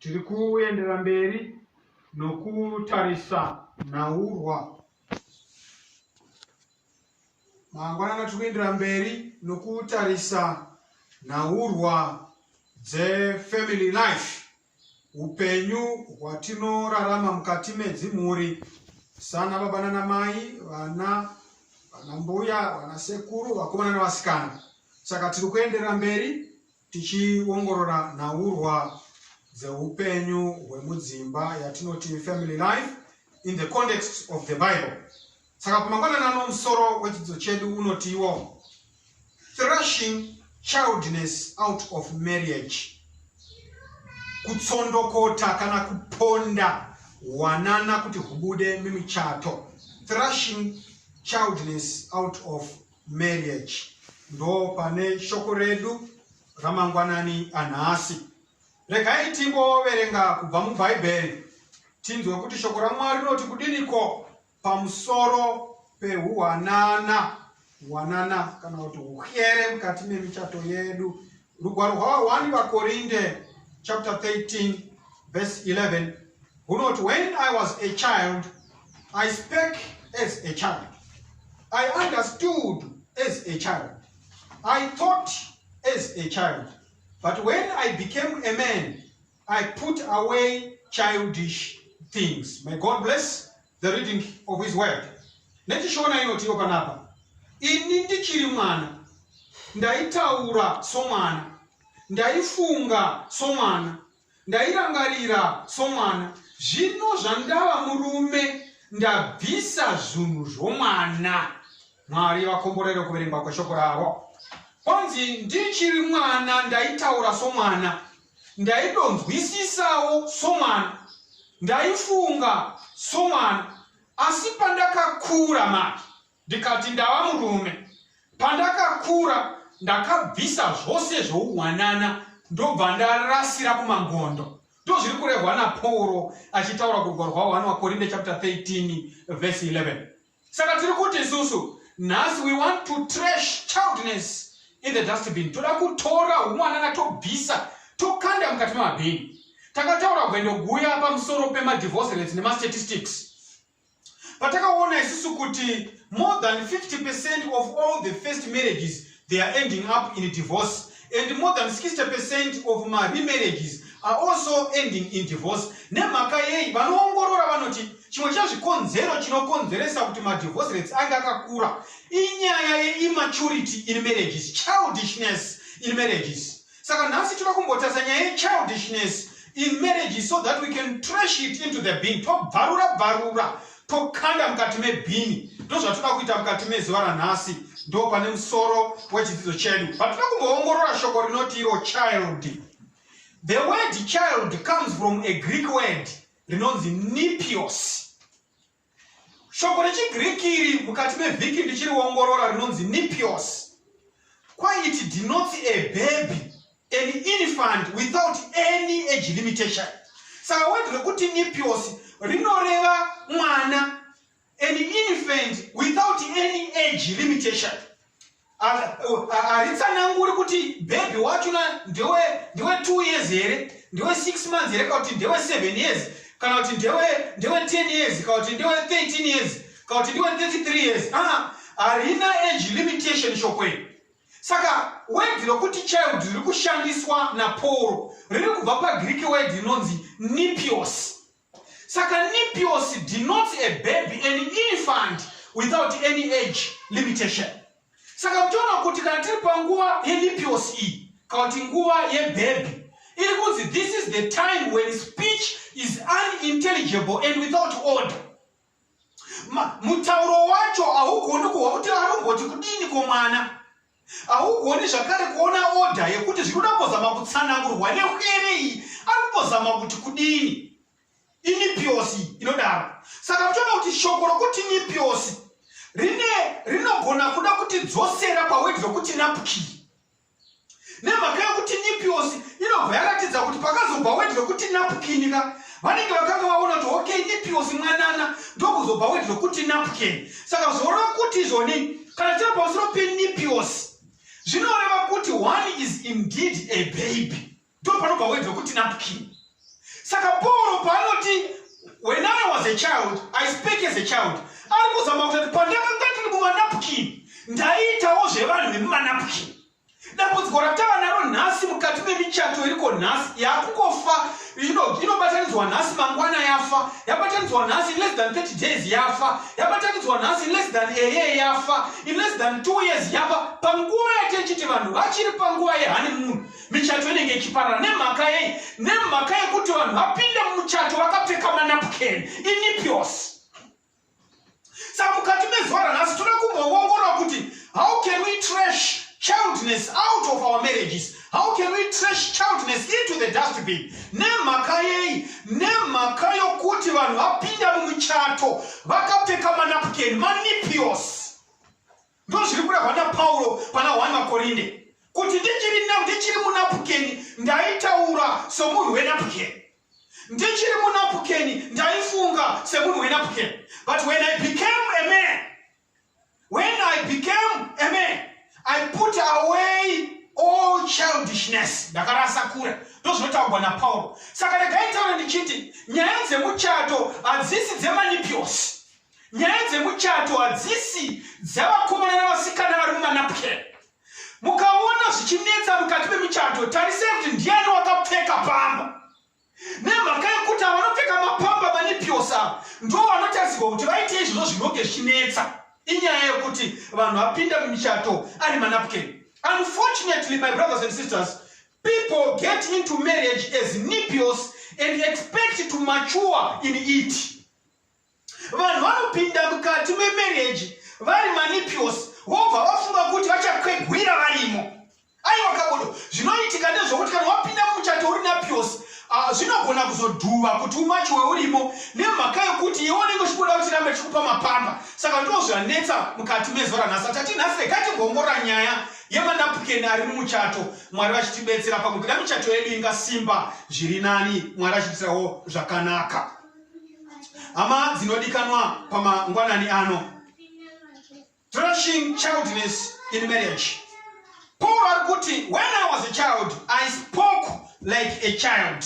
Tiri kuendera mberi nokutarisa nhaurwa. Mangwanana tiri kuendera mberi nokutarisa nhaurwa dzefamily life, upenyu hwatinorarama mukati medzimhuri sana baba nana mai, vana, vana mbuya, vana sekuru, vakomana nevasikana. Saka tiri kuendera mberi tichiongorora nhaurwa dzeupenyu hwemudzimba yatinoti family life in the context of the bible saka kumangwanani ano musoro wechidzidzo chedu unotiwo thrashing childness out of marriage kutsondokota kana kuponda hwanana kuti hubude mimichato thrashing childness out of marriage ndo pane shoko redu ramangwanani anhasi regai timboverenga kubva mubhaibheri tinzwe kuti shoko ramwari rinoti kudiniko pamusoro pehuwanana wanana kana kuti uhyere mukati memichato yedu Rugwaro rwavawani vaKorinde chapter 13 verse 11 hunoti when I was a child I spake as a child I understood as a child I thought as a child but when I became a man I put away childish things. May God bless the reading of his word nechishona inotiwo panapa ini ndichiri mwana ndaitaura somwana ndaifunga somwana ndairangarira somwana zvino zvandava murume ndabvisa zvinhu zvomwana mwari vakomborere kuverengwa kweshoko ravo kwanzi ndichiri mwana ndaitaura somwana ndaidonzwisisawo somwana ndaifunga somwana asi pandakakura manje ndikati ndava murume pandakakura ndakabvisa zvose zvouwanana ndobva ndarasira kumangondo ndozviri kurehwa napauro achitaura kurwa rwahwani wakorinde chapter 13 vhesi 11 Saka tiri kuti isusu nhasi we want to trash childness in the dustbin. Toda kutora humwanana tobvisa tokanda mukati memabhini. Takataura gwendo guya pamusoro pemadivorce rates nemastatistics. Patakaona isusu kuti more than 50 percent of all the first marriages they are ending up in divorce and more than 60 percent of maremarriages are also ending in divorce nemhaka yei vanoongorora vanoti chimwe chezvikonzero chinokonzeresa kuti madivorce rates ange akakura inyaya yeimaturity in marriages childishness in marriages saka nhasi toda kumbotarisa nyaya yechildishness in marriage so that we can trash it into the bin tobvarura bvarura tokanda mukati mebhini ndozvatoda kuita mukati mezuva ranhasi ndo pane musoro wechidzidzo chedu vatoda kumboongorora shoko rinoti iro child the word child comes from a greek word rinonzi nipios Shoko rechiGiriki iri mukati mevhiki ndichiriongorora rinonzi nipios. Kwai it denotes a baby, an infant without any age limitation. Saka word rekuti nipios rinoreva mwana, an infant without any age limitation. haritsananguri kuti bhebhi wacho ndewe ndewe two years here ndewe six months here kana kuti ndewe seven years kana kuti ndewe ndewe ten years kana kuti ndewe thirteen years kana kuti ndewe thirty three years aa harina age limitation shoko iri saka wedhi rokuti child riri kushandiswa napauro riri kubva pagiriki wedhi inonzi nipios Saka nipios denotes a baby an infant without any age limitation. Saka muchiona kuti kana tiri panguva yenipios iyi kana kuti nguva yebhebhi iri kunzi this is the time when speech is unintelligible and without order mutauro wacho haugoni kuhwa kuti anomboti kudini komwana haugoni zvakare kuona odha yekuti zvinoda kuzama kutsanangurwa nehwere iyi ari kuzama kuti kudini inipiosi inodaro saka muchiona kuti shoko rokuti nipiosi rine rinogona kuda kuti dzosera pawedhi rokuti napukii nemhaka yokuti nipiosi inobva yaratidza kuti pakazobva wedi rekuti napukini ka vanenge vakanga vaona kuti ok nipiosi mwanana ndokuzobva wedi rekuti napukini saka zvoreva kuti izvoni kana tiri pamusoro penipiosi zvinoreva kuti one is indeed a baby ndo panobva word wekuti napkin saka pauro paanoti when i was a child i spake as a child ari kuzama kutoti pandakanga tiri mumanapkin ndaiitawo zvevanhu vemumanapkin dambudziko ratava naro nhasi mukati memichato iriko nhasi yakungofa inobatanidzwa nhasi mangwana yafa yabatanidzwa nhasi in less than 30 days yafa yabatanidzwa nhasi in less than a year yafa in less than two years yafa panguva yatechiti vanhu vachiri panguva yehani munhu michato inenge ichiparara nemhaka yei nemhaka yekuti vanhu vapinde mumuchato vakapfeka manapken inipios saka mukati mezuva ranhasi toda kumboongorora kuti how can we trash childness out of our marriages how can we trash childness into the dustbin nemhaka yei nemhaka yokuti vanhu vapinda mumuchato vakapfeka manapken manipios Ndozviri kurehwa naPauro pana 1 Makorinde kuti ndichiri na ndichiri munapukeni ndaitaura somunhu wenapukeni ndichiri munapukeni ndaifunga semunhu wenapukeni but when i became a man when i became a man i put away all childishness ndakarasa kure ndozvinotaurwa napauro saka regaitaura ndichiti nyaya dzemuchato hadzisi dzemanipiosi nyaya dzemuchato hadzisi dzavakomana navasikana vari mumanapke mukaona zvichinetsa mukati memuchato tarisai kuti ndiani wakapfeka pamba nemhaka yekuti avanopfeka mapamba manipiosa ndo vanotarisirwa kuti vaite izvozvo zvinonge zvichinetsa inyaya yekuti vanhu vapinda mumichato ari manapke unfortunately my brothers and sisters people get into marriage as nipios and expect to mature in it vanhu vanopinda mukati memereji vari manipios vobva vafunga kuti vachakwegwira varimo aiwa kabodo zvinoitika ndezvokuti kana wapinda mumuchato uri napios ah, zvinogona kuzodhuva kuti umachi weurimo nemhaka yokuti iwe unenge uchikuda kuti rambe chikupa mapamba saka ndo zvanetsa mukati mezuva ranhasi atati nhasi rekatimbongora nyaya yemanapukeni ari mumuchato mwari vachitibetsera pakubuda michato yedu ingasimba zviri nani mwari achitirawo zvakanaka hama dzinodikanwa pamangwanani ano thrashing childness in marriage paul ari kuti when i was a child i spoke like a child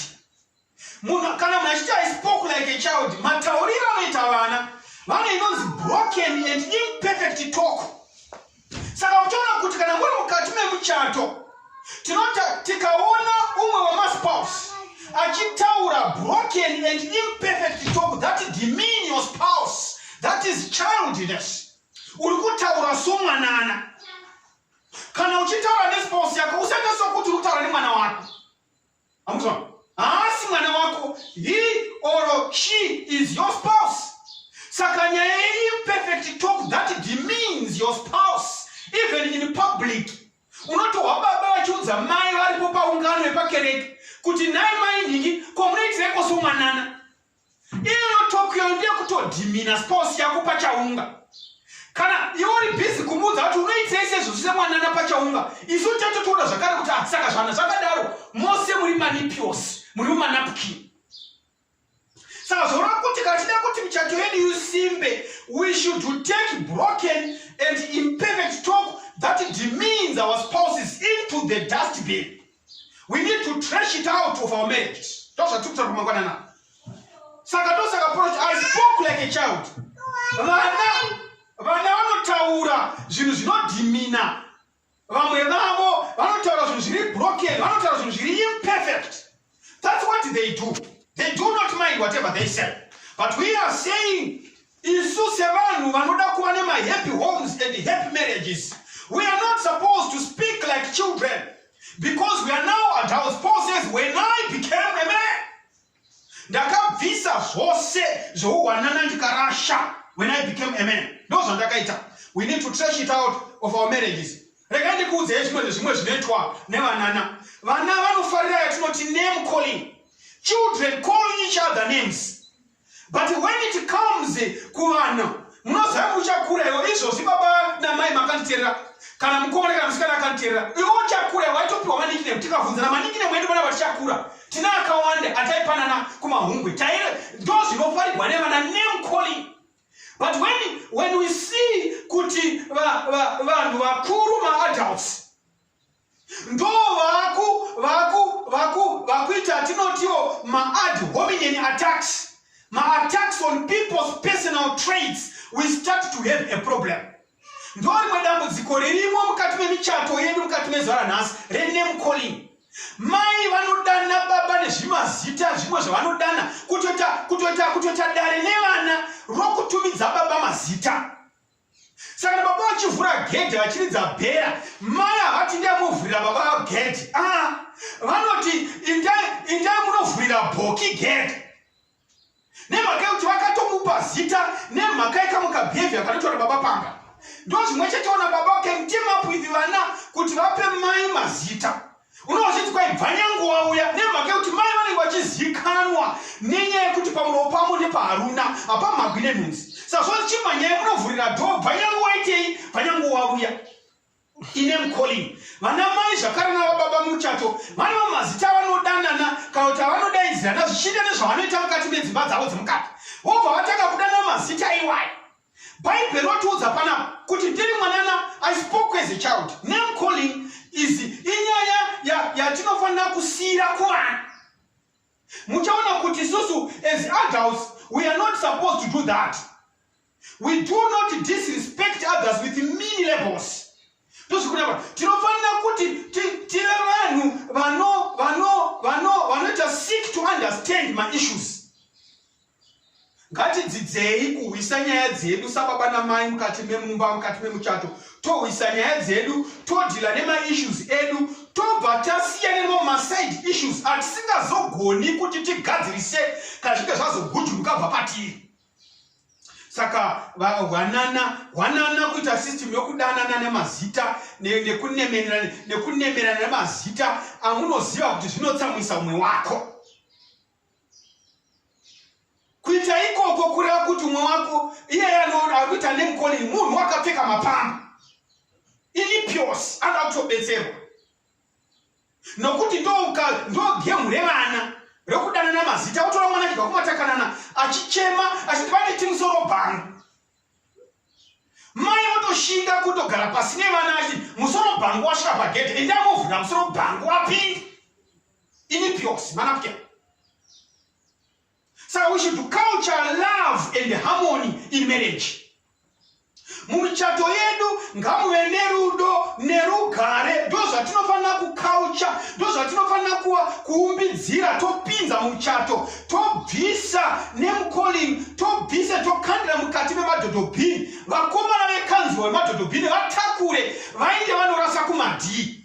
munhu kana munhu achiti i spoke like a child matauriro anoita vana vane inonzi broken and imperfect talk saka uchaona kuti kana muri mukati memuchato tinota tikaona umwe wemaspouse achitaura broken and imperfect talk that demean your spouse that is childness uri kutaura somwanana kana uchitaura nespouse yako usaita sokuti uri kutaura nemwana wako Amuzwa? Haasi mwana wako, he or she is your spouse. Saka nyaya yeimperfect talk that demeans your spouse even in public. Unotohwa baba vachiudza mai varipo paungano yepakereke kuti nhai mai nhingi komunoitireko somwanana. Iyo Tokyo ndiye kutodhimina spouse yako pachaunga. Kana iwe uri busy kumuudza kuti unoitei sezvo zvise mwanana pachaunga. Isu tete toda zvakare kuti ah saka zvana zvakadaro mose muri manipios, muri manapkin. Saka zvoreva kuti kana tida kuti michato yedu isimbe, we should take broken and imperfect talk that demeans our spouses into the dustbin. we need to trash it out of our marriages ndozvatiri kutaura kumangwanana saka ndosaka proch i spoke like a child vana vana vanotaura zvinhu zvinodhimina vamwe vavo vanotaura zvinhu zviri broken vanotaura zvinhu zviri imperfect that's what they do they do not mind whatever they say but we are saying Isu sevanhu vanoda kuva nemahappy homes and happy marriages, we are not supposed to speak like children because we are now adults. Paul says, when I became a man, ndakabvisa zvose zvouwanana ndikarasha when I became a man. Ndo zvandakaita. We need to trash it out of our marriages. Rega ndikuudzei zvimwe zvezvimwe zvinoitwa nevanana. Vana vanofarira yatinoti name calling. Children calling each other names. but when it comes kuvana munoziva muchakura iwo izvozvi baba namai makanditerera kana mukomana kana musikana akanditerera iwo chakura waitopiwa manikinem tikavhunza na manikinem edu vana vatichakura tina akawanda ataipanana kumahungwe taire ndo zvinofarigwa nevana name calling but when, when we see kuti vanhu vakuru maadults ndo vaku vaku vaku vakuita atinotiwo maad hominen attacks maattacks on people's personal trades we start to have a problem ndo rimwe dambudziko ririmo mukati memichato yedu mukati mezuva ranhasi rename calling mai vanodana baba nezvimazita zvimwe zvavanodana kutoita kutoita kutoita dare nevana rokutumidza baba mazita saka baba vachivhura gedhe vachiridza bhera mai havati ndai muvhurira baba gedhe a ah, vanoti indai munovhurira bhoki gedhe nemhaka yekuti vakatomupa zita nemhaka yekamukabehavia kanotora baba panga ndo zvimwe chete ona baba can team up with vana kuti vape mai mazita unonga uchiti kwai bvanyangu wauya nemhaka yekuti mai vanenge vachizikanwa nenyaya yekuti pamuromo pamo nepaharuna hapamhagwi nenhunzi sazvoti chimanyaya munovhurira dho bvanyangu waitei bvanyangu wauya ine mcalling vana mai zvakare navababa muchato vane vamazita avanodanana kana kuti avanodaidzirana zvichiita nezvavanoita mukati medzimba dzavo dzemukati vobva vatanga kudana mazita iwayo Bible rotiudza panapa kuti ndiri mwanana I spoke as a child. Name calling is inyaya yatinofanira ya kusiyira kuvanhu. Muchaona kuti isusu as adults we are not supposed to do that. We do not disrespect others with many labels. Tozvikunapa tinofanira kuti tive vanhu vanoita seek to understand my issues. ngatidzidzei kuhwisa nyaya dzedu sababa namai mukati memumba mukati memuchato tohwisa nyaya dzedu todhila nemaissues edu tobva tasiyana nemo maside issues atisingazogoni kuti tigadzirise kana zvinge zvazogujuruka bva patiri saka hwanana hwanana kuita system yokudanana nemazita nekunemerana nemazita amunoziva kuti zvinotsamwisa umwe wako kuita ikoko kureva kuti umwe wako iyeye ari kuita nemukoni munhu wakapfeka mapamba ilipios anoda kutobetserwa nokuti ndogemu revana rokudanana mazita otora mwana chibva kumatakanana achichema achiti pane timusoro bhangu mai votoshinga kutogara pasi nevana achiti musoro bhangu wasvika pagedhe endamuvhura musoro bhangu apinde Ini pyosi manapken. So we should culture love and harmony in marriage. mumichato yedu ngamuve nerudo nerugare ndozvatinofanira kukaucha ndozvatinofanira kuwa kuumbidzira topinza muchato tobvisa nemucalling tobvisa tokandira mukati memadhodhobhini vakomana vekanzwa vemadhodhobhini vatakure vainge vanorasa kumadii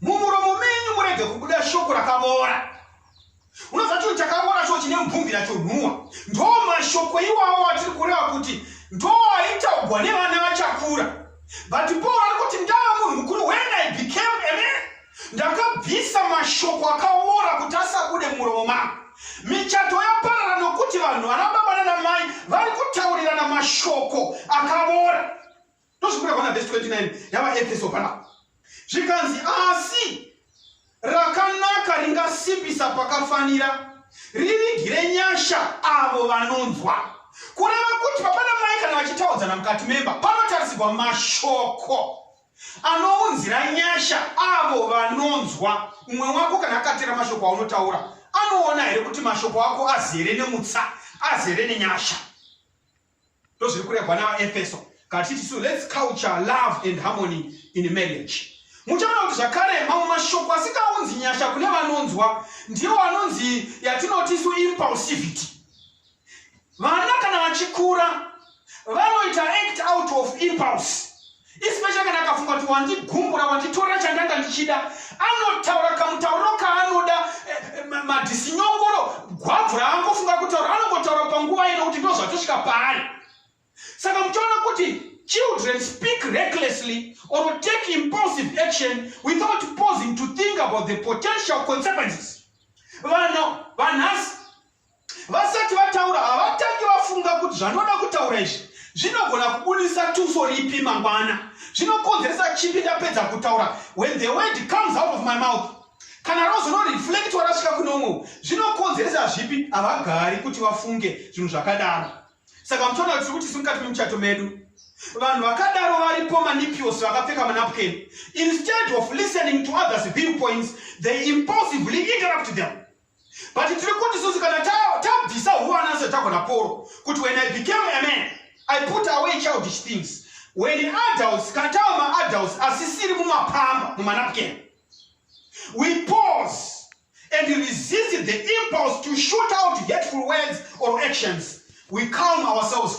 mumuromo menyu murege kubuda shoko rakavora unoziva chinhu chakavora cho chine mupfumbira chonhuwa ndo mashoko iwawo atiri kureva kuti ndo aitaugwa nevana vachakura but paul ari kuti ndava munhu mukuru when i became a man ndakabvisa mashoko akavora kuti asabude muromo mangu michato yaparara nokuti vanhu vana baba nanamai vari kutaurirana mashoko akavora Ndozvikuda kuona verse 29 yavaEfeso panapa. Zvikanzi asi rakanaka ringasimbisa pakafanira rivigire nyasha avo vanonzwa. Kureva kuti papana mai kana vachitaudzana mukati memba panotarisirwa mashoko anounzira nyasha avo vanonzwa. Umwe wako kana akatera mashoko aunotaura anoona here kuti mashoko ako azere nemutsa, azere nenyasha? ndozviri kuregwa navaefeso kati tisu lets culture love and harmony in marriage muchaona kuti zvakare mamwe mashoko asikaunzi nyasha kune vanonzwa ndiwo anonzi yatinotisu impulsivity vana kana vachikura vanoita act out of impulse especially kana akafunga kuti wandigumbura wanditora chandanga ndichida anotaura kamutauriro kaanoda eh, eh, madhisinyongoro gwabvu raangofunga kutaura anongotaura panguva ino kuti ndozvatosvika paari saka muchiona kuti children speak recklessly or take impulsive action without pausing to think about the potential consequences vano vanhasi vasati vataura havatangi vafunga kuti zvandinoda kutaura izvi zvinogona kubudisa tuso ripi mangwana zvinokonzeresa chipi ndapedza kutaura when the word comes out of my mouth kana rozororeflectwa rasvika kune umwe zvinokonzeresa zvipi havagari kuti vafunge zvinhu zvakadaro saka mutoona kuti tiri kuti simukati memuchato medu vanhu vakadaro varipo manipios vakapfeka manapukeni instead of listening to others viewpoints they impulsively interrupt them but tiri kuti susu kana tabvisa huwana sezvatagona poro kuti when i became a man i put away childish things when adults kana tava maadults asisiri mumapamba mumanapken we pause and resist the impulse to shoot out hateful words or actions we calm ourselves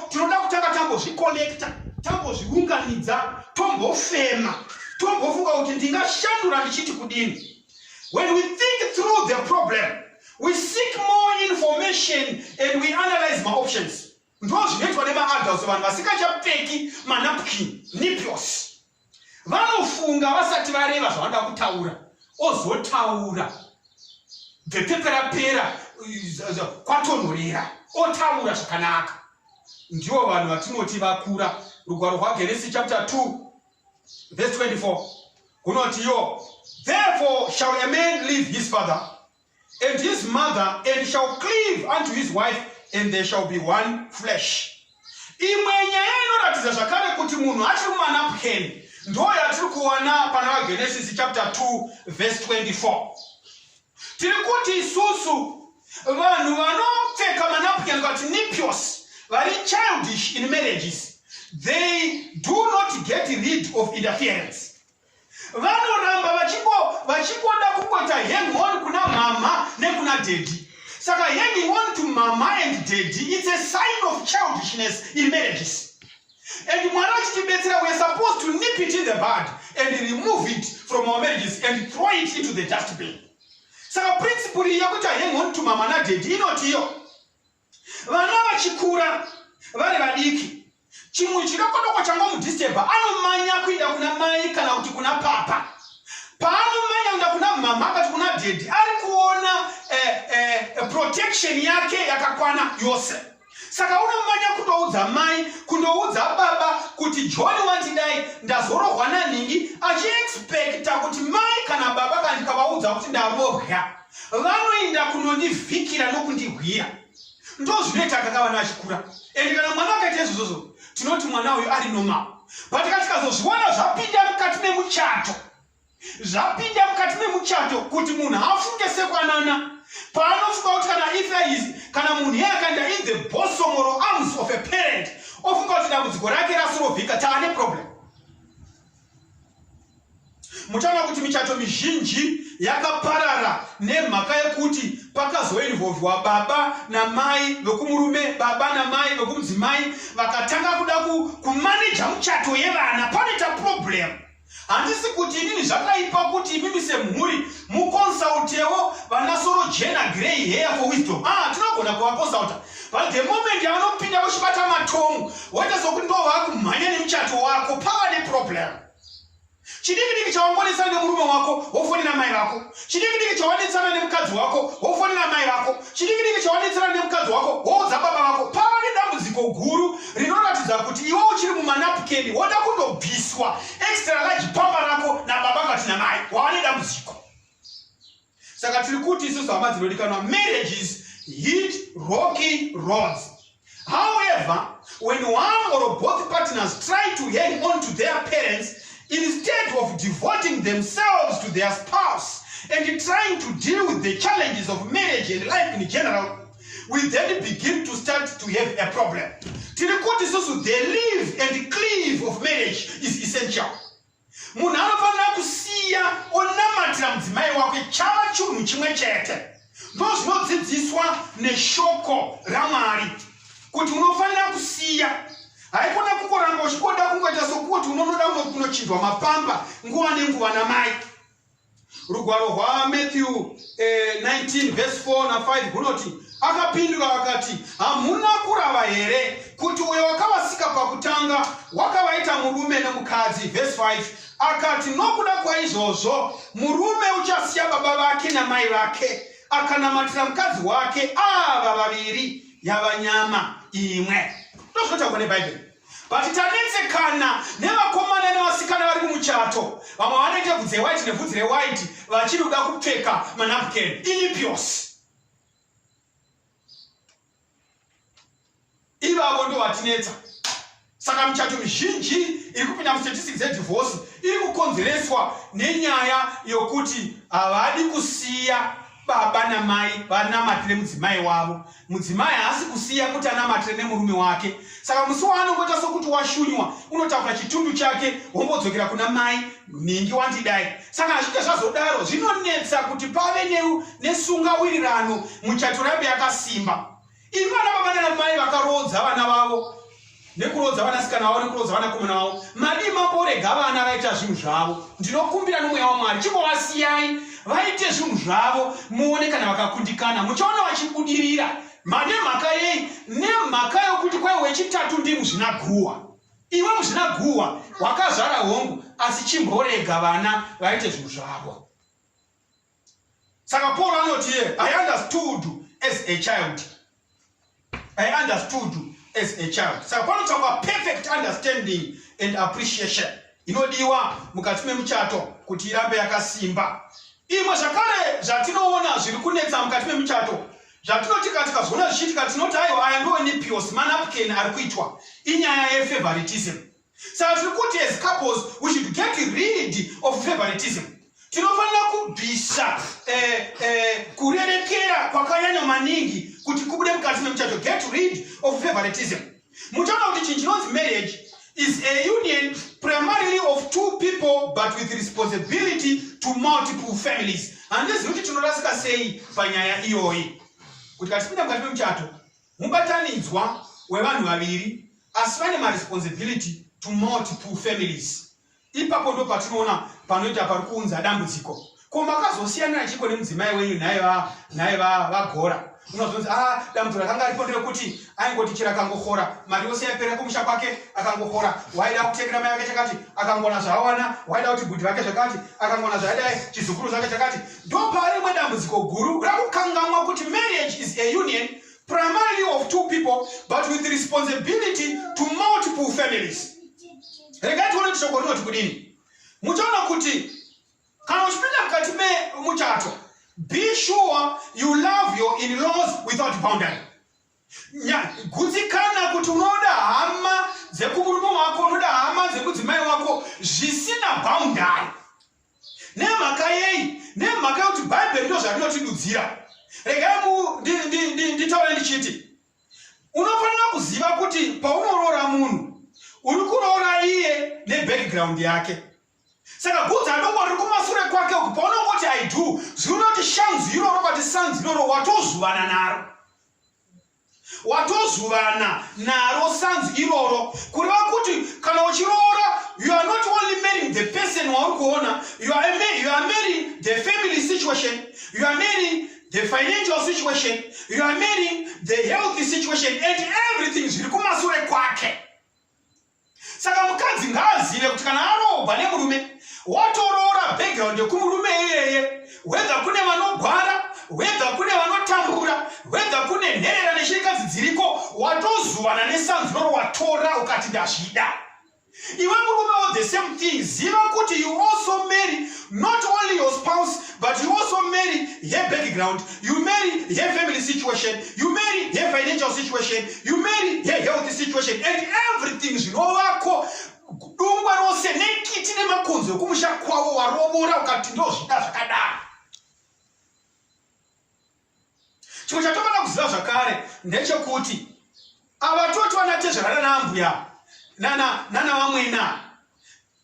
tinoda kutanga tambozvicollecta tambozviunganidza tombofema tombofunga kuti ndingashandura ndichiti kudini When we think through the problem, we seek more information and we analyze my options. Ndo zvinoitwa nemaadults vanhu vasikachapfeki manapkin niplos vanofunga vasati vareva zvavanoda kutaura ozotaura bvepeperapera kwatonhorera otaura zvakanaka ndivo vanhu vatinoti vakura rugwaro rwageresi chapter 2 Verse 24. Kunoti yo, therefore shall a man leave his father and his mother and shall cleave unto his wife and they shall be one flesh. Imwe nyaya inoratidza zvakare kuti munhu achiri mumanaphukeni ndo yatiri kuwana pana vaGenesisi chapter 2 verse 24. tiri kuti isusu vanhu vanopfeka manapukeni kati nipios vari childish in marriages they do not get rid of interference vanoramba vachingoda kungoita hang on kuna mama nekuna dedi saka hanging on to mama and dedi its a sign of childishness in marriages And Mwari achitibetsera, we are supposed to nip it in the bud and remove it from our marriages and throw it into the dustbin. Saka principle iyi yekuti hang on to mama na daddy inoti iyo vana vachikura vari vadiki, chimwe chidokodoko changomudisturba anomanya kuenda kuna mai kana kuti kuna papa. Paanomanya kuenda kuna mama akati kuna daddy, ari kuona eh, eh, protection yake yakakwana yose. saka unomanya kutoudza mai kundoudza baba kuti john wandidai ndazorohwa nanhingi achiexpecta kuti mai kana baba kandikavaudza kuti ndavobya vanoinda kunondivhikira nokundihwira ndozvinoita akakava naachikura ende kana mwana akaita izvozvozvo tinoti mwana uyu ari normal but katikazozviwana zvapinda mukati memuchato zvapinda mukati memuchato kuti munhu afunge sekwanana paanofunga kuti kana ifais kana munhu yeakanda in the bosomoro arms of a parent ofunga kuti dambudziko rake rasirovhika taane problem muchaona kuti michato mizhinji yakaparara nemhaka yekuti pakazoinvolvwa baba namai vekumurume baba namai vekumudzimai vakatanga kuda kumaneja muchato yevana panoita problemu handisi kuti inini zvakaipa kuti imimi semhuri muconsultewo vanasoro jena grey hair for wisdom ah tinogona kuvaconsulta but the moment yavanopinda vochibata matomu woita sokuti ndo vakumhanya nemuchato wako pava neproblem chidikidiki chawangonesana nemurume wako wofonera mai vako chidikidiki chawanetsana nemukadzi wako wofonera mai vako chidikidiki chawanetsana nemukadzi wako woudza baba vako pava nedambudziko guru rinoratidza kuti iwe uchiri mumanapukeni woda kundobviswa extra large pamba rako nababa kati namai wava nedambudziko saka tiri kuti isusu hama dzinodikanwa marriages hit rocky rods however when one or both partners try to hang on to their parents instead of devoting themselves to their spouse and trying to deal with the challenges of marriage and life in general we then begin to start to have a problem tiri kuti susu the live and cleave of marriage is essential munhu anofanira kusiya onamatira mudzimai wake chava chunhu chimwe chete ndo zvinodzidziswa neshoko ramwari kuti unofanira kusiya haikona kungoramba uchikoda kungoita sokuti unonoda unochinjwa mapamba nguva nenguva namai rugwaro rwamatthew eh, 19 vhesi 4 na 5 runoti akapindura akati hamuna kurava here kuti uyo wakavasika pakutanga wakavaita murume nemukadzi vhesi 5 akati nokuda kwaizvozvo murume uchasiya baba vake namai vake akanamatira mukadzi wake ava vaviri yava nyama imwe ndozvinotaurwa nebhaibheri But tanetsekana nevakomana nevasikana vari kumuchato vamwe vanoita bvudzi rewhite nebvudzi rewhite vachiri kuda kupfeka manapken ilipios ivavo ndo vatinetsa saka michato mizhinji iri kupinda mustatistics dzedivorce iri kukonzereswa nenyaya yokuti havadi kusiya baba namai vanamatire mudzimai wavo mudzimai haasi kusiya kuti anamatire nemurume wake saka musi waanongoita sokuti washunywa unotakura chitundu chake wombodzokera kuna mai nhingi wandidai saka hazvite zvazodaro zvinonetsa kuti pave nesungawirirano muchato rambe yakasimba Imi vana baba nana mai vakaroodza vana vavo nekuroodza vanasikana vavo nekuroodza vanakomana vavo madii mamborega vana vaita zvinhu zvavo ndinokumbira nomweya wamwari chimbovasiyai vaite zvinhu zvavo muone kana vakakundikana muchaona vachibudirira manemhaka yei nemhaka yokuti kwai wechitatu ndi muzvinaguhwa iwe muzvinaguhwa wakazvara hongu asi chimborega vana vaite zvinhu zvavo saka paul anoti ye i understood as a child i understood as a child saka panotsvakwa perfect understanding and appreciation inodiwa mukati memuchato kuti irambe yakasimba imwe zvakare zvatinoona zviri kunetsa mukati memuchato zvatinoti ka tikazoona zvichiitika tinoti aiwa aya ndoonipios manapken ari kuitwa inyaya yefavoritism Saka tiri kuti as couples we should get rid of favoritism. Tinofanira kubvisa eh, eh, kurerekera kwakanyanya maningi kuti kubude mukati memuchato get rid of favoritism. Muchaona kuti chinhu chinonzi marriage is a union primarily of two people but with responsibility to multiple families. Handizivi kuti tinorasika sei panyaya iyoyi kuti katipinda mukati memuchato Mubatanidzwa wevanhu vaviri asi vane maresponsibility to multiple families. Ipapo ndo patinoona panoita pari kuunza dambudziko. Ko makazosiyanira chiko nemudzimai wenyu nhai va nhai va vagora. Unozonzi ah dambudziko rakanga ripo nderekuti aingoti chira akangohora mari yose yapera kumusha kwake akangohora waida kutengera mai vake chakati akangona zvaawana waida kuti bhudhi vake zvakati akangona zvaidai chizukuru zvake chakati Ndopaari rimwe dambudziko guru rakukangamwa kuti marriage is a union primarily of two people but with responsibility to multiple families. Regai tione kuti shoko rinoti kudini. Muchaona kuti kana uchipinda mukati memuchato be sure you love your in-laws without boundary. gutsikana kuti unoda hama dzekumurume wako unoda hama dzekudzimai wako zvisina bhaundari nemhaka yei nemhaka yokuti bhaibheri ndo zvarinotidudzira regai nditaure ndichiti unofanira kuziva kuti paunoroora munhu uri kuroora iye nebackground yake saka gudza adoko riri kumasure kwake uku paunongoti i do zviuri unoti shanzi iroro kati sanzi iroro watozuvana naro watozuvana naro sanzi iroro kureva kuti kana uchiroora you are not only marrying the person wauri kuona you are marrying the family situation you are marrying the financial situation you are marrying the healthy situation and everything zviri kumasure kwake saka mukadzi ngaazive kuti kana aroogwa nemurume watoroora background yekumurume iyeye wedha kune vanogwara wedha kune vanotambura wedha kune nherera neshirikadzi dziriko watozuvana nesanzunoro watora ukati ndazvida iwe murume wo the same thing ziva kuti you also marry not only your spouse But you also marry her background, you marry her family situation, you marry her financial situation, you marry her health situation, and everything zvinovako dungwa rose nekiti nemakonzo ekumusha kwavo warovora ukati ndozvida zvakadaro chimwe chatofanira kuziva zvakare ndechekuti avatoti vanatezvarana naambuya nana vamwena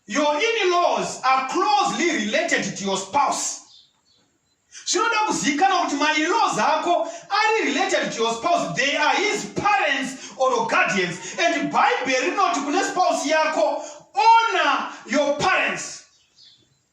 your inlaws are closely related to your spouse zvinoda kuzivikanwa kuti mainlaws ako ari related to your spouse they are his parents or guardians and bhaibheri rinoti kune spouse yako honor your parents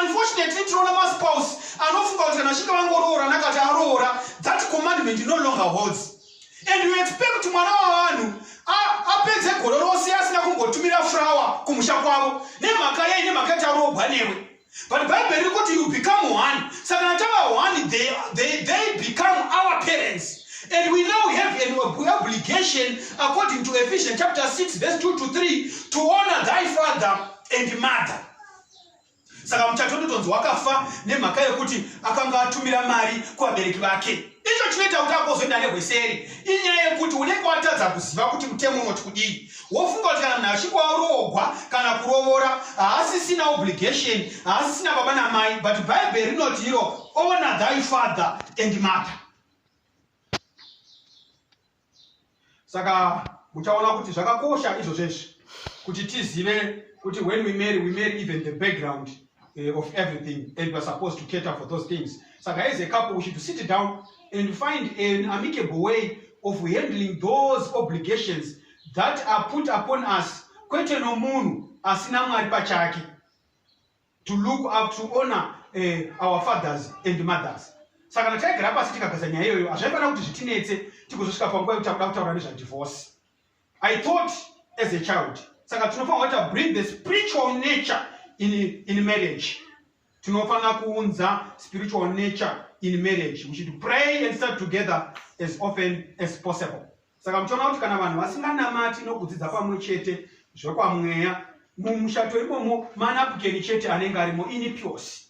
unfortunately tinoona maspouse anofunga kuti kana vachinge vangoroora nakati aroora that commandment no longer holds and you expect kuti mwana wavanhu apedze gore rose asina kumbotumira frawa kumusha kwavo nemhaka yei nemhaka yati aroogwa newe but bible riri kuti you become one saka kana tava one they, they, they become our parents and we now have an obligation according to ephesians chapter 6 verse 2 to 3 to honor thy father and mother saka muchato ndotonzi wakafa nemhaka yekuti akanga atumira mari kuvabereki vake icho chinoita kuti akozoenda nehweseri inyaya yekuti unenge watadza kuziva kuti mutemo unoti kudii wofunga kuti kana munhu achinge waroogwa kana kurovora haasisina obligation haasisina baba namai but bhaibheri rinoti iro ona thy father and mother saka muchaona kuti zvakakosha izvo zvesvi kuti tizive kuti when we marry we marry even the background uh, of everything and weare supposed to cater for those things saka as a couple we should sit down and find an amicable way of handling those obligations that are put upon us kwete nomunhu asina mwari pachake to look up to honor uh, our fathers and mothers saka kana taigara pasi tikagasa nyaya iyoyo hazvaifanira kuti zvitinetse tikuzosvika panguva yekuti takuda kutaura nezvadivorce i thought as a child saka tinofanira kuita bring the spiritual nature in, in marriage tinofanira kuunza spiritual nature in marriage we should pray and start together as often as possible Saka muchiona kuti kana vanhu vasinganamati nokudzidza pamwe chete zvekwamweya mumushato imomo manapukeni chete anenge arimo ini pyosi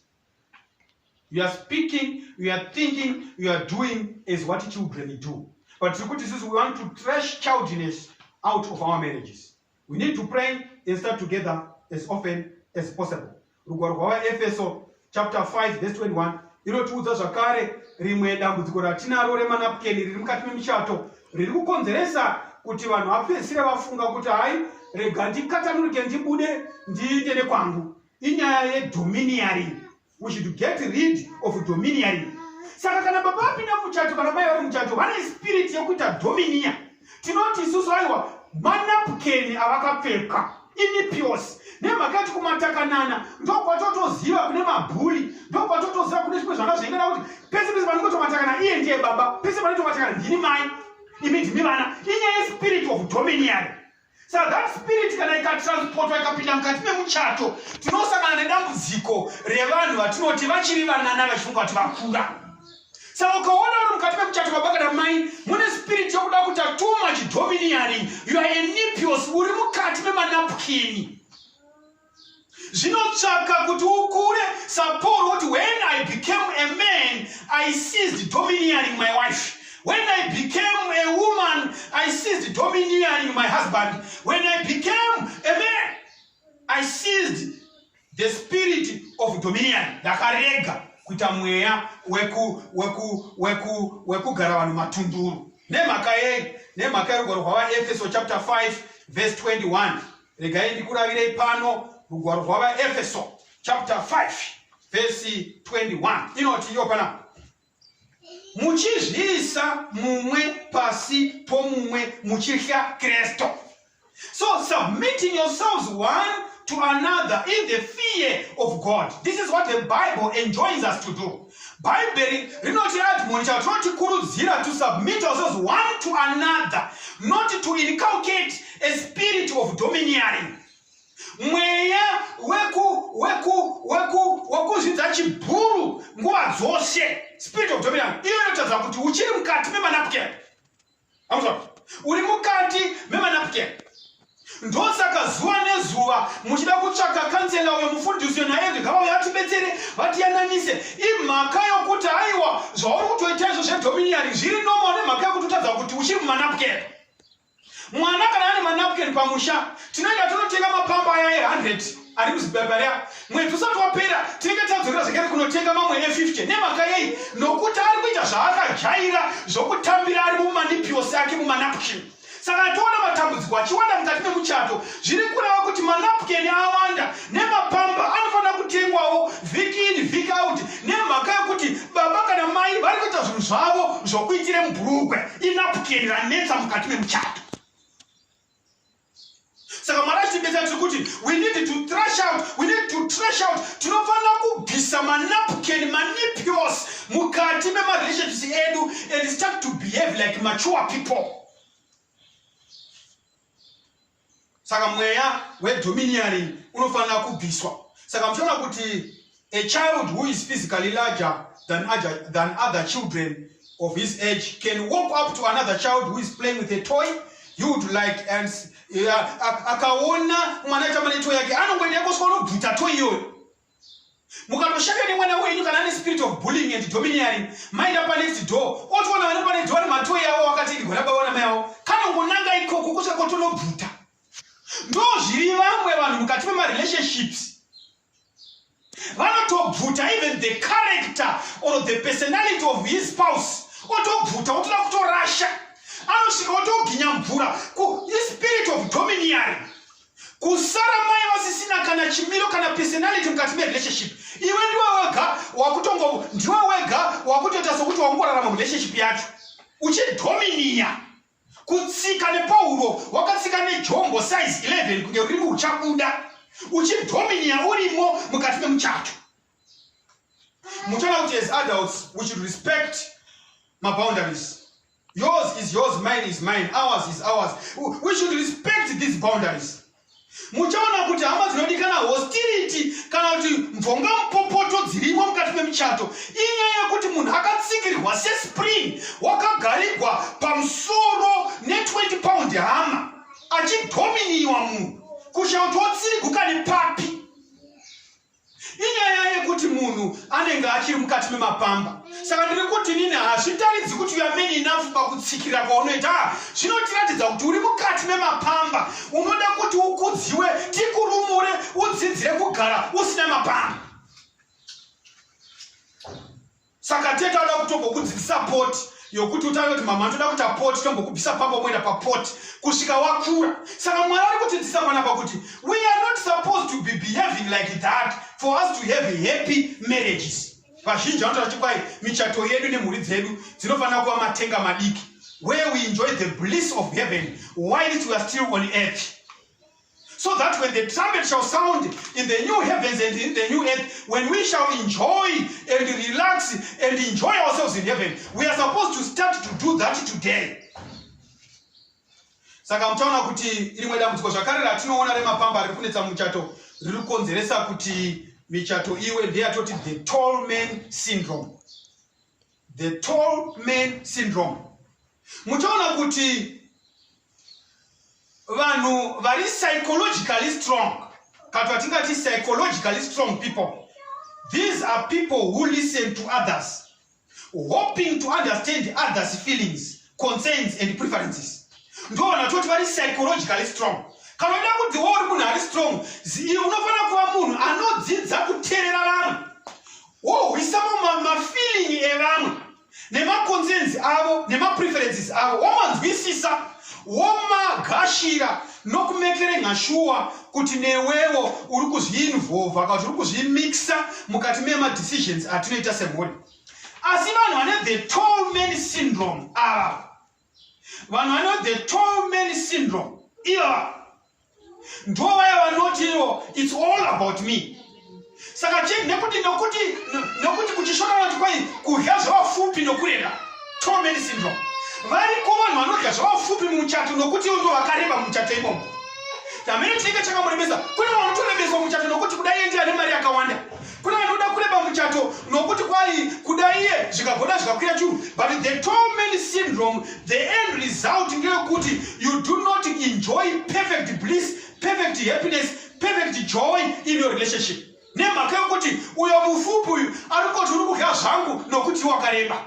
you are speaking you are thinking you are doing as what children do but tiri kuti sisi we want to trash childness out of our marriages We need to pray and start together as often as possible. Rugwaro rwavaEfeso chapter 5 verse 21 inotiudza zvakare rimwe dambudziko ratinaro remanapukeni riri mukati memuchato riri kukonzeresa kuti vanhu vapedzisire vafunga kuti hai rega ndikatanurike ndibude ndiite nekwangu inyaya yedominiaring we should get rid of dominiary saka kana baba vapinda muchato kana mai vari muchato vane spirit yekuita dominia tinoti isusu aiwa manapukeni avakapfeka inipios nemhaka yati kumatakanana ndokwatotoziva kune mabhuri ndokwatotoziva kune zvimwe zvanga zvaingana kuti pese pese panongotomatakana iye ndiye baba pese panotomatakana ndini mai imi ndimi vana inyaya yespirit of dominiary saka that spirit kana ikatransportwa ikapinda mukati memuchato tinosangana nedambudziko revanhu vatinoti vachiri vanana vachifunga kuti vakura saka ukaona uri mukati memuchato baba kana mai mune spirit yokuda kuita too much dominiaring you are enipios uri mukati memanapukini zvinotsvaka kuti ukure sapaul woti when i became a man i seized domineering my wife when i became a woman i seized domineering my husband when i became a man i seized the spirit of dominion ndakarega kuita mweya wekugara vanhu matunduru nemhaka yei nemhaka yerugwaro rwavaefeso chapter 5 verse 21 regai ndikuravirei pano rugwaro rwavaefeso chapter 5 vhesi 21 inoti iyo pana muchizviisa mumwe pasi pomumwe muchitya kristu so submitting yourselves one to another in the fear of god this is what the bible enjoins us to do bhaibheri rinoti admonisha kuti tinotikurudzira to submit ourselves one to another not to inculcate a spirit of domineering mweya wekuzvidza chibhuru nguva dzose spirit of domineering iyo inotadza kuti uchiri mukati memanapukeni amuzvona uri mukati memanapken ndosaka zuva nezuva muchida kutsvaka kansela uyo mufundisi uyo naye ndingava uyo atibetsere vatiyananise imhaka yokuti aiwa zvauri kutoita izvo zvedominiari zviri nomo nemhaka yokuti utadza kuti uchiri mumanapken mwana kana ane manapken pamusha tinoenda tonotenga mapamba aya e100 ari kuzibhabhari apa mwedzi usati wapera tinenge tadzokera zvekare kunotenga mamwe e50 nemhaka yei nokuti ari kuita zvaakajaira zvokutambira ari mumanipiosi ake mumanapkin saka atoona matambudziko achiwanda mukati memuchato zviri kureva kuti manapkin awanda nemapamba anofanira kutengwawo vhiki ini vhiki out nemhaka yekuti baba kana mai vari kuita zvinhu zvavo zvokuitire mubhurukwe inapkin ranetsa mukati memuchato saka mwari achitibetsera tiri kuti we need to trash out we need to trash out tinofanira kubvisa manapken manipios mukati memarelationships edu and start to behave like mature people saka mweya wedominiaring unofanira kubviswa saka muchaona kuti A child who is physically larger than other, than other children of his age can walk up to another child who is playing with a toy you would like and akaona mwana aitamba netoy yake anongoenda yakoswa unobvuta toy iyoyo mukatoshanda nemwana wenyu kana ane spirit of bullying and domineering maenda panext door otoona vane panext door vari matoy avo wakati ndigona baba wana mai avo kana ungonanga ikoko kusvika kotonobvuta ndo zviri vamwe vanhu mukati memarelationships vanotobvuta even the character or the personality of his spouse otobvuta otoda kutorasha anosvika otoginya mvura ku ispirit of dominiary kusara mai vasisina kana chimiro kana personality mukati merelationship iwe ndiwe wega wakutongo ndiwe wega wakutoita sokuti wakungorarama murelationship yacho uchidominiya kutsika nepauro wakatsika nejombo size 11 kunge rurimi uchabuda uchidhominiya urimo mukati memuchato muchaona kuti as adults we should respect maboundaries yours is yours mine is mine ours is ours we should respect these boundaries muchaona kuti hama dzinodikana hostility kana kuti mvonga mupopoto dzirimo mukati memuchato inyaya yekuti munhu akatsikirwa sespring wakagarigwa pamusoro ne20 pound hama achidominiwa munhu kushautiwa tsiriguka nepapi inyaya yekuti munhu anenge achiri mukati memapamba saka ndiri kuti nini hazvitaridzi kuti uyameni inafu pakutsikirira kwaunoita ah, zvinotiratidza kuti uri mukati memapamba unoda kuti ukudziwe tikurumure udzidzire kugara usina mapamba saka tete anoda kutombokudzivisa poti yokuti utange kuti mama ndoda kuita poti tombokubvisa pamba moenda papoti kusvika wakura saka mwari ari kutidzisa panapa kuti we are not supposed to be behaving like that for us to have happy marriages vazhinji vanotaura kuti kwai michato yedu nemhuri dzedu dzinofanira kuva matenga madiki where we enjoy the bliss of heaven whilst we are still on earth so that when the trumpet shall sound in the new heavens and in the new earth, when we shall enjoy and relax and enjoy ourselves in heaven, we are supposed to start to do that today. saka muchaona kuti rimwe dambudziko zvakare ratinoona remapamba riri kunetsa muchato riri kukonzeresa kuti michato iwe ndeyatoti the tall man syndrome the tall man syndrome muchaona kuti vanhu vari psychologically strong kati vatingati psychologically strong people these are people who listen to others hoping to understand others feelings concerns and preferences ndo vanhu vatoti vari psychologically strong kana uida kuti wo uri munhu ari strong unofanira kuva munhu anodzidza kuterera vanhu wohwisamo mafeeling evamwe nemaconcerns avo nemapreferences avo womanzwisisa womagashira nokumekere nhashuwa kuti newewo uri kuzviinvolva kana kuti uri kuzvimixa mukati memadecisions atinoita semhuri asi vanhu vane the tall man syndrome ava vanhu vane the tall man syndrome ivava ndo vaya vanoti ivo its all about me saka chii nekuti nokuti nokuti kuchishona vanoti kwai kudya zvavafupi nokureba tall man syndrome variko vanhu vanodya zvavafupi muchato nokuti ivo ndo vakareba muchato imomo tamene chinenge chakamurebesa kune vanotorebeswa muchato nokuti kudai endi ane mari yakawanda Kune vanoda kureba muchato nokuti kwai kuda iye zvikagona zvikakwira churu but the tall man syndrome the end result ndeyekuti you do not enjoy perfect bliss perfect happiness perfect joy in your relationship nemhaka yokuti uyo mufupi uyu ari koti uri kudya zvangu nokuti wakareba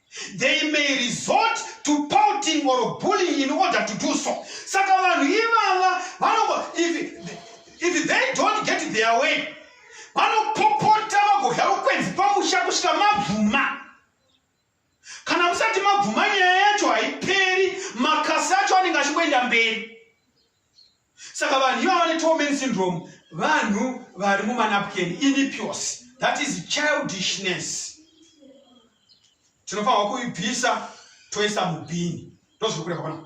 they may resort to pouting or bullying in order to do so saka vanhu ivava vanoba if, if they don't get their way vanopopota vagodya rukwenzi pamusha kusvika mabvuma kana musati mabvuma nyaya yacho haiperi makasi acho anenge achingoenda mberi saka vanhu iva vane tomen syndrome vanhu vari mumanapken inipios that is childishness tinofanirwa kuibvisa toisa mubhini ndozviri kureva pana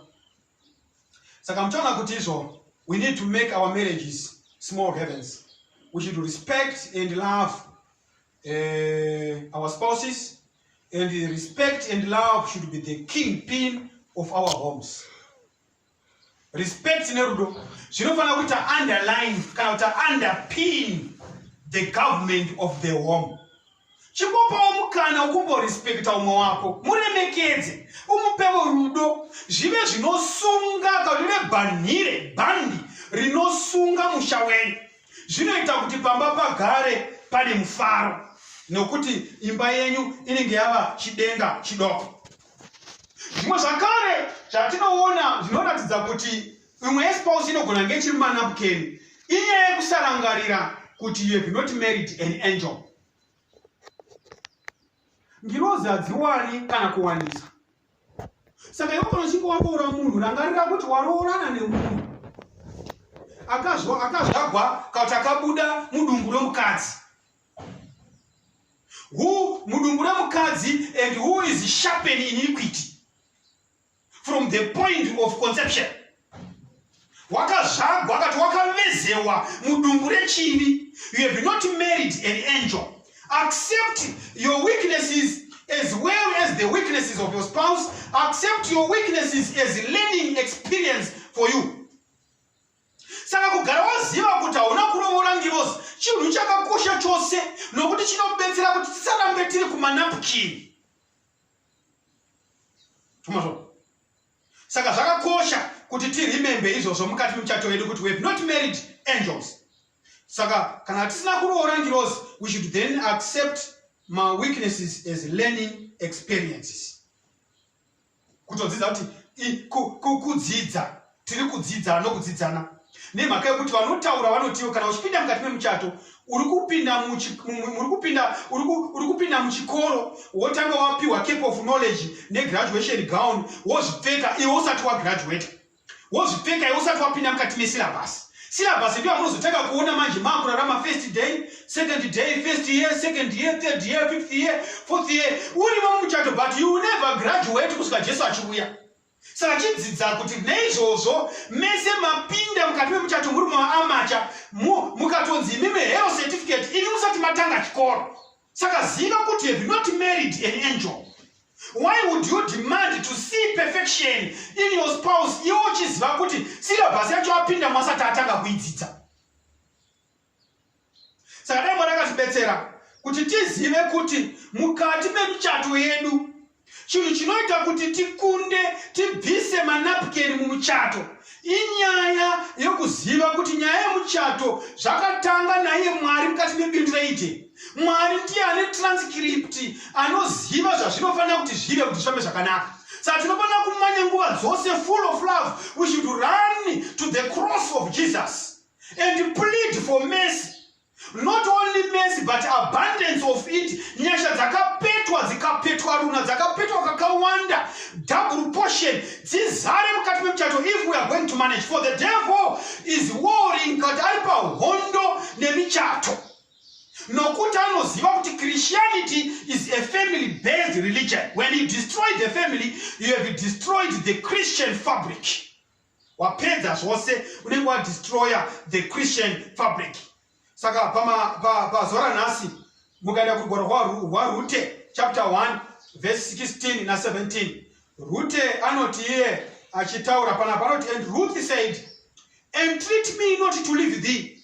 saka muchaona kuti izvo we need to make our marriages small heavens we should respect and love uh, our spouses and respect and love should be the king pin of our homes respect nerudo zvinofanira kuita underline kana kuti underpin the government of the home chimbopawo mukana ukumborespekta umwe wako muremekedze umupevo rudo zvive zvinosunga kaune bhanhire bhandi rinosunga musha wenyu zvinoita kuti pamba pagare pane mufaro nokuti imba yenyu inenge yava chidenga chidoko zvimwe zvakare zvatinoona zvinoratidza kuti imwe yespousi inogona nge chiri mumanapukeni inyaya yekusarangarira kuti you have not married an angel ngirozi hadziwani kana kuwanisa saka iwe kana uchinge waroora munhu rangarira kuti waroorana nemunhu akazvagwa kana kuti akabuda mudumbu romukadzi who mudumbu remukadzi and who is sharpen iniquity from the point of conception wakazvagwa akati wakavezewa mudumbu rechini you have not married an angel accept your weaknesses as well as the weaknesses of your spouse accept your weaknesses as learning experience for you saka kugara waziva kuti hauna kurovora ngirozi chinhu chakakosha chose nokuti chinobetsera kuti tisarambe tiri kumanapukini saka zvakakosha kuti tirimembe izvozvo mukati muchato yedu kuti weve not married angels saka kana tisina kuroora ngirozi we should then accept maweaknesses as learning experiences kutodzidza kuti kudzidza tiri kudzidza nokudzidzana nemhaka yekuti vanotaura vanotiwo kana uchipinda mukati memuchato uri kupinda muchikoro wotanga wapiwa cape of knowledge negraduation gown wozvipfeka iwe usati wagraduata wozvipfeka iwe usati wapinda mukati mesilabhasi silabhasi ndiyo yamunozotanga kuona manje maakurarama first day second day first year second year third year fifth year fourth year urimo mumuchato but you never graduate kusvika jesu achiuya saka chidzidza kuti neizvozvo mese mapinda mukati memuchato muri maamacha mukatonzi imimi hero certificate ini musati matanga chikoro Saka ziva kuti have not married an angel. Why would you demand to see perfection in your spouse iwo uchiziva kuti syllabus yacho apinda mwasati atanga kuidzidza? Saka dai Mwari akatibetsera kuti tizive kuti mukati memuchato yedu chinhu chinoita kuti tikunde tibvise manapukeni mumuchato inyaya yokuziva kuti nyaya yemuchato zvakatanga naiye mwari mukati mebindu reiti mwari ndiye ane transkripti anoziva zvazvinofanira kuti zvive kuti zvifambe zvakanaka saka tinofanira kumanya nguva dzose full of love we should run to the cross of jesus and plead for mercy not only mercy but abundance of it nyasha dzakapetwa dzikapetwa runa dzakapetwa kakawanda double portion dzizare mukati memuchato if we are going to manage for the devil is warring kati ari pahondo nemichato nokuti anoziva kuti christianity is a family based religion when you destroy the family you have destroyed the christian fabric wapedza zvose unenge wadestroya the christian fabric saka pazuva ranhasi mukaenda kugwaro hwarute chapter 1 verse 16 na 17 rute anoti iye achitaura panapa anoti and ruth said entreat me not to leave thee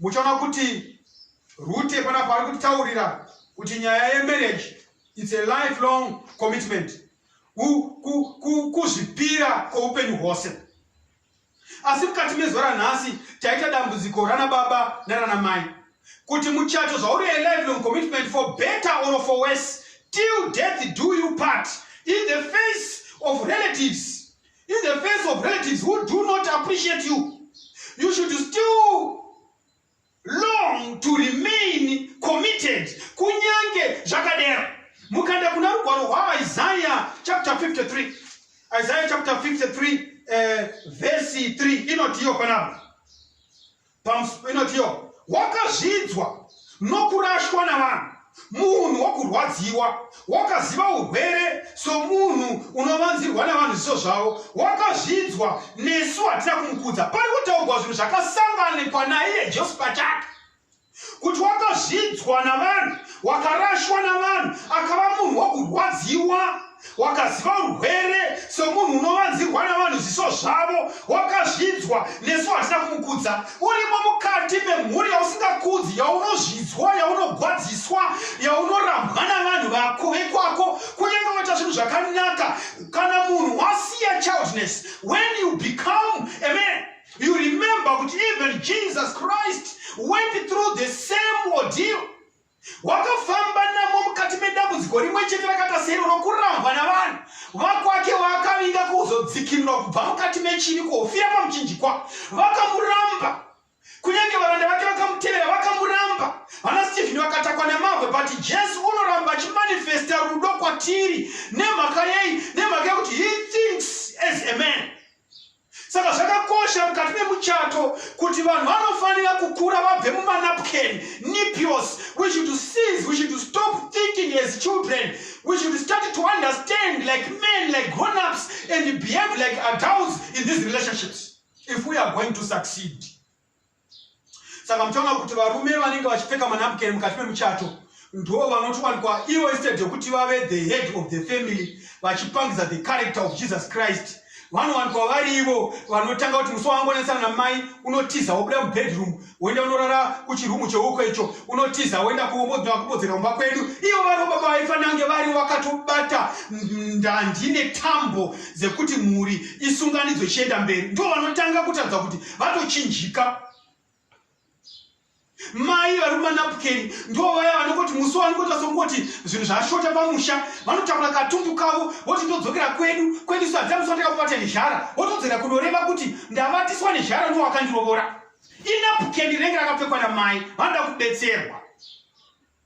muchaona kuti rute panapa ari kutaurira kuti nyaya yemarriage its a lifelong commitment kuzvipira kweupenyu hwose asi mukati mezuva ranhasi taita dambudziko rana baba narana mai kuti muchato zvauri a lifelong commitment for better or for worse till death do you part in the face of relatives in the face of relatives who do not appreciate you you should still long to remain committed kunyange zvakadero mukanda kuna rugwaro rwaisaia chapter 53 isaia chapter 53 uh, eh, vhesi 3 inotiyo panapa inotiyo wakazvidzwa nokurashwa navanhu munhu wokurwadziwa wakaziva urwere somunhu unovanzirwa navanhu zviso zvavo wakazvidzwa nesu hatina kumukudza pari kutaurwa zvinhu zvakasanganikwa naiye jesu pachake kuti wakazvidzwa navanhu wakarashwa navanhu akava munhu wokurwadziwa wakaziva urwere somunhu unovanzirwa navanhu zviso zvavo wakazvidzwa nesu hatina kumukudza urimo mukati memhuri yausingakudzi yaunozvidzwa yaunogwadziswa yaunorambwa navanhu vako vekwako kunyange waita zvinhu zvakanaka kana munhu wasiya childness when you become a man you remember kuti even jesus christ went through the same ordeal wakafamba namo mukati medambudziko rimwe chete rakaita sero rokurambwa navanhu vakwake vaakavinga kuzodzikinura kubva mukati mechini kuhofira pamuchinjikwa vakamuramba kunyange varanda vake vakamutevera vakamuramba vana stephen vakatakwa nemabwe but jesu unoramba achimanifesta rudo kwatiri nemhaka yei nemhaka yekuti he thinks as a man saka zvakakosha mukati memuchato kuti vanhu vanofanira kukura vabve mumanapken nipios we should seize we should stop thinking as children we should start to understand like men like grownups and behave like adults in these relationships if we are going to succeed saka muchaona kuti varume vanenge vachipfeka manapukeni mukati memuchato ndo vanotowanikwa ivo instead yekuti vave the head of the family vachipangidza the character of jesus christ vanowanikwa vari ivo vanotanga kuti musi wangonesana namai unotiza wobuda mubedroom woenda unorara kuchirumu cheuko icho unotiza woenda kubodzera kumba kwedu ivo vari baba vaifanange vari vakatobata ndandi netambo dzekuti mhuri isunganidzwe ichienda mberi ndo vanotanga kutadza kuti vatochinjika mai vari kumanapukeni ndo vaya vanokoti musi wanokoti vasongoti zvinhu zvashota pamusha vanotakura katumbu kavo voti ndodzokera kwedu kwedu sadza musi vataka kubata nezhara votodzera kunoreva kuti ndavatiswa nezhara ndo wakandirovora inapukeni renge rakapfekwa namai vanoda kubetserwa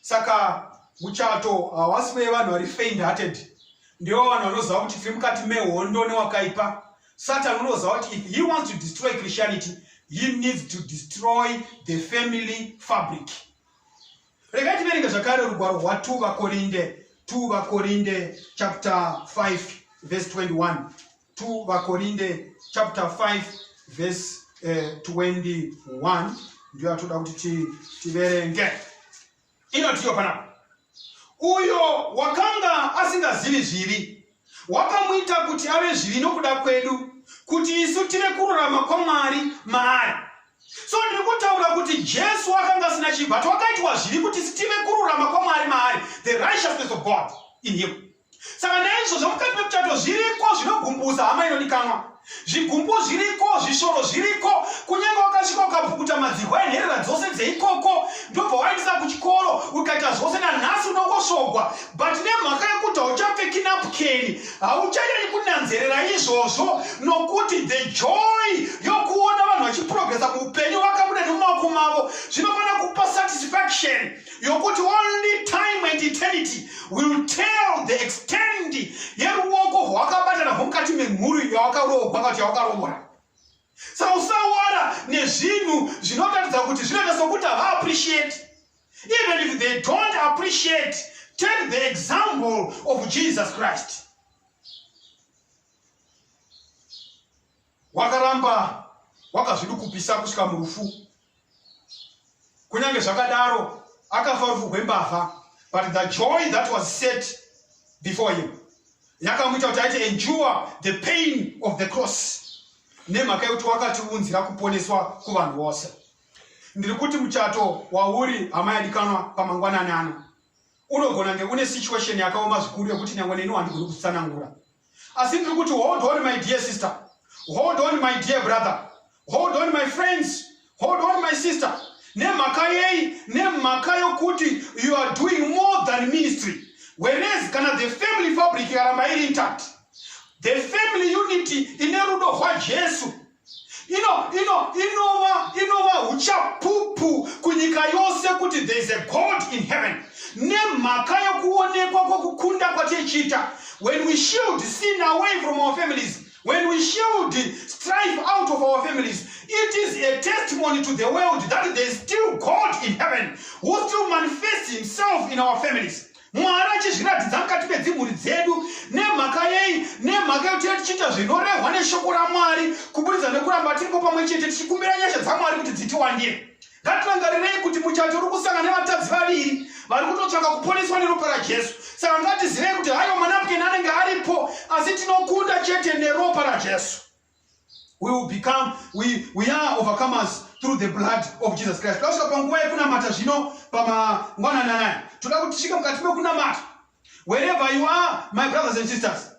saka muchato hawasi wevanhu vari faint hearted ndiwo vanhu vanoziva kuti tiri mukati mehondo newakaipa satan unoziva kuti if he wants to destroy christianity he needs to destroy the family fabric regai tiverenge zvakare rugwaro rwa 2 vakorinde 2 vakorinde chapter 5 verse 21 2 vakorinde chapter 5 verse uh, eh, 21 ndiyo atoda kuti tiverenge inotiyo panapa uyo wakanga asingazivi zvivi wakamuita kuti ave zvivi nokuda kwedu kuti isu tive kururama kwamwari maari so ndiri kutaura kuti jesu akanga asina chibva ti wakaitwa zvivi kuti sitive kururama kwamwari maari the righteousness of god in him saka naizvo zvomukati memuchato zviriko zvinogumbusa hama inodikanwa zvigumbu zviriko zvishoro zviriko kunyange wakasvika ukapukuta madzihwa enherera dzose dzeikoko ndobva waendisa kuchikoro ukaita zvose nanhasi unongosvogwa but nemhaka yekuti hauchapfeki napukeni hauchanyani kunanzerera izvozvo nokuti the joy yokuona vanhu vachiprogresa muupenyu vakabuda nemumaoko mavo zvinofanira kupa satisfaction yokuti only time and eternity will tell the extend yeruoko hwakabatana hwomukati memhuri yawakaroogwa kana kuti yawakaroora saka usawara nezvinhu zvinotaridza kuti zvinoita sokuti havaappreciate even if they don't appreciate take the example of jesus christ wakaramba wakazvidukupisa kusvika murufu kunyange zvakadaro akafa rufu rwembavha but the joy that was set before him yakamuita kuti aite endure the pain of the cross nemhaka yekuti wakatiunzira kuponeswa kuvanhu vose ndiri kuti muchato wauri hama yadikanwa pamangwanani ano unogona nge une situation yakaoma zvikuru yekuti nyangwe neni wandigoni kutsanangura asi ndiri kuti hold on my dear sister hold on my dear brother hold on my friends hold on my sister nemhaka yei nemhaka yokuti you are doing more than ministry whereas kana the family fabric ikaramba iri intact the family unity ine rudo rwajesu ino ino inova inova uchapupu kunyika yose kuti there is a god in heaven nemhaka yokuonekwa kwokukunda kwatichiita when we shield sin away from our families when we shield strife out of our families it is a testimony to the world that there is still god in heaven who still manifests himself in our families Mwari achizviratidza mukati medzimhuri dzedu. Nemhaka yei? Nemhaka yekuti tinenge tichiita zvinorehwa neshoko raMwari kuburitsa nekuramba tiripo pamwe chete tichikumbira nyasha dzaMwari kuti dzitiwandire. Ngatirangarirei kuti muchato uri kusangana nevatadzi vaviri vari kutotsvaka kuponeswa neropa raJesu. Saka ngatizivei kuti haiwa manapukeni anenge aripo, asi tinokunda chete neropa raJesu. we will become we, we are overcomers through the blood of jesus christ tosvika panguva yekunamata zvino pamangwanani anai toda kuti tisvike mukati mekunamata wherever you are my brothers and sisters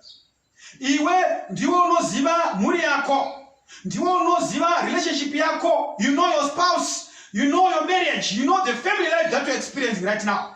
iwe ndiwe unoziva mhuri yako ndiwe unoziva relationship yako you know your spouse you know your marriage you know the family life that you're experiencing right now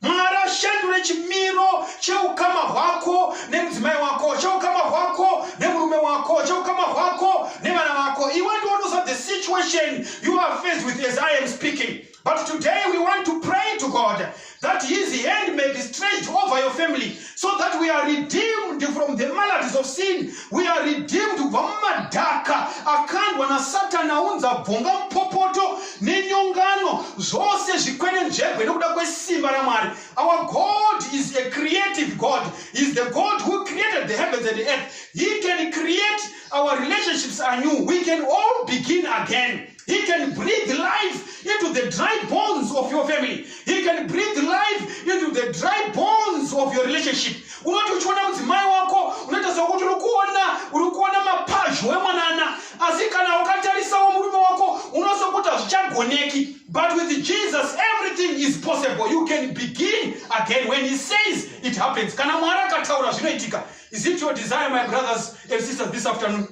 mwari ashandure chimiro cheukama hwako nemudzimai wako cheukama hwako nemurume wako cheukama hwako nevana vako iwe ndionosa the situation you are faced with as i am speaking but today we want to pray to god that his hand may be stretched over your family so that we are redeemed from the maladies of sin we are redeemed kubva mumadhaka akandwa nasatani aunza bvonga mupopoto nenyongano zvose zvikwenenzvegwe nekuda kwesimba ramwari our god is a creative god is the god who created the heavens and the earth he can create our relationships anew we can all begin again He can breathe life into the dry bones of your family. He can breathe life into the dry bones of your relationship. Unoti uchiona mudzimai wako unoita sekuti uri kuona uri kuona mapazho emwanana, asi kana ukatarisawo murume wako unozokuti hazvichagoneki. But with Jesus everything is possible. You can begin again when he says it happens. Kana Mwari akataura zvinoitika. Is it your desire my brothers and sisters this afternoon?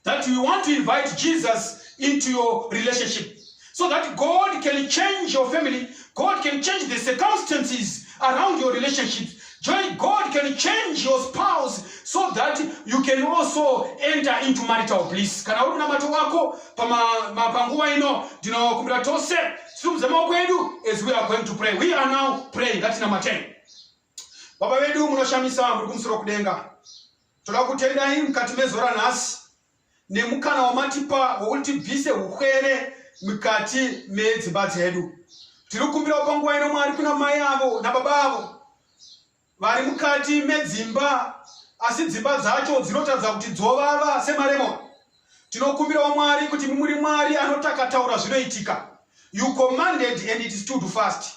that you want to invite Jesus into your relationship so that God can change your family, God can change the circumstances around your relationship. Join God can change your spouse so that you can also enter into marital bliss. Kana uri namato wako panguva ino ndinokumbira tose simuze maoko edu as we are going to pray. We are now praying ngatinamate. Baba vedu munoshamisa muri kumusoro kudenga. Toda kutendai mukati mezuva ranhasi nemukana wamatipa wokuti tibvise ukwere mukati medzimba dzedu. Tiri kukumbirawo panguva ino Mwari kuna mai avo nababa avo vari mukati medzimba asi dzimba dzacho dzinotaridza kuti dzovava semaremoni. Tinokumbirawo Mwari kuti muri Mwari anotakataura zvinoitika. You commanded and it stood fast.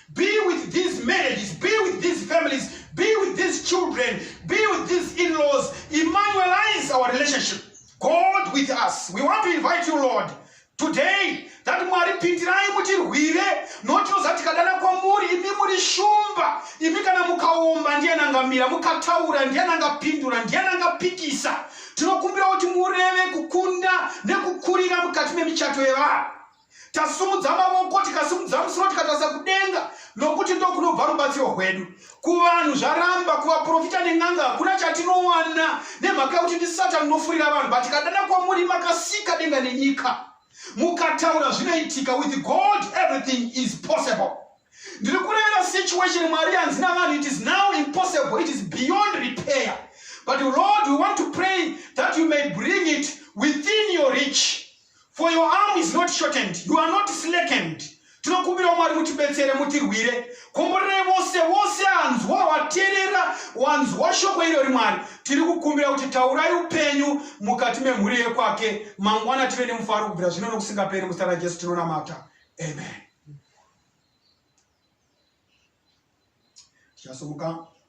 Be with these marriages, be with these families, be with these children, be with these in-laws. Emmanuelize our relationship. God with us. We want to invite you, Lord, today that mwari pindirai mutirwire noti oza tikadana kwamuri imi muri shumba imi kana mukaomba ndiyani angamira mukataura ndiyani angapindura ndiyani angapikisa tinokumbira kuti mureve kukunda nekukurira mukati memichato yevanhu tasimudza mavoko tikasimudza musoro tikatarisa kudenga nokuti ndokunobva rubatsiro rwedu kuvanhu zvaramba kuvaprofita nen'anga hakuna chatinowana nemhaka yekuti ndi satani unofurira vanhu but tikadana kwamuri makasika denga nenyika mukataura zvinoitika with god everything is possible ndiri kurevera situation mwari yanzi navanhu it is now impossible it is beyond repair but lord we want to pray that you may bring it within your reach for your arm is not shortened you are not slackened tinokumbirawo mwari mutibetsere mutirwire komborerai vose vose anzwa waterera wanzwa shoko iro ri mwari tiri kukumbira kuti taurai upenyu mukati memhuri yekwake mangwana tive nemufaro kubvira zvino nokusingaperi muzita rajesu tinonamata amen tichasumuka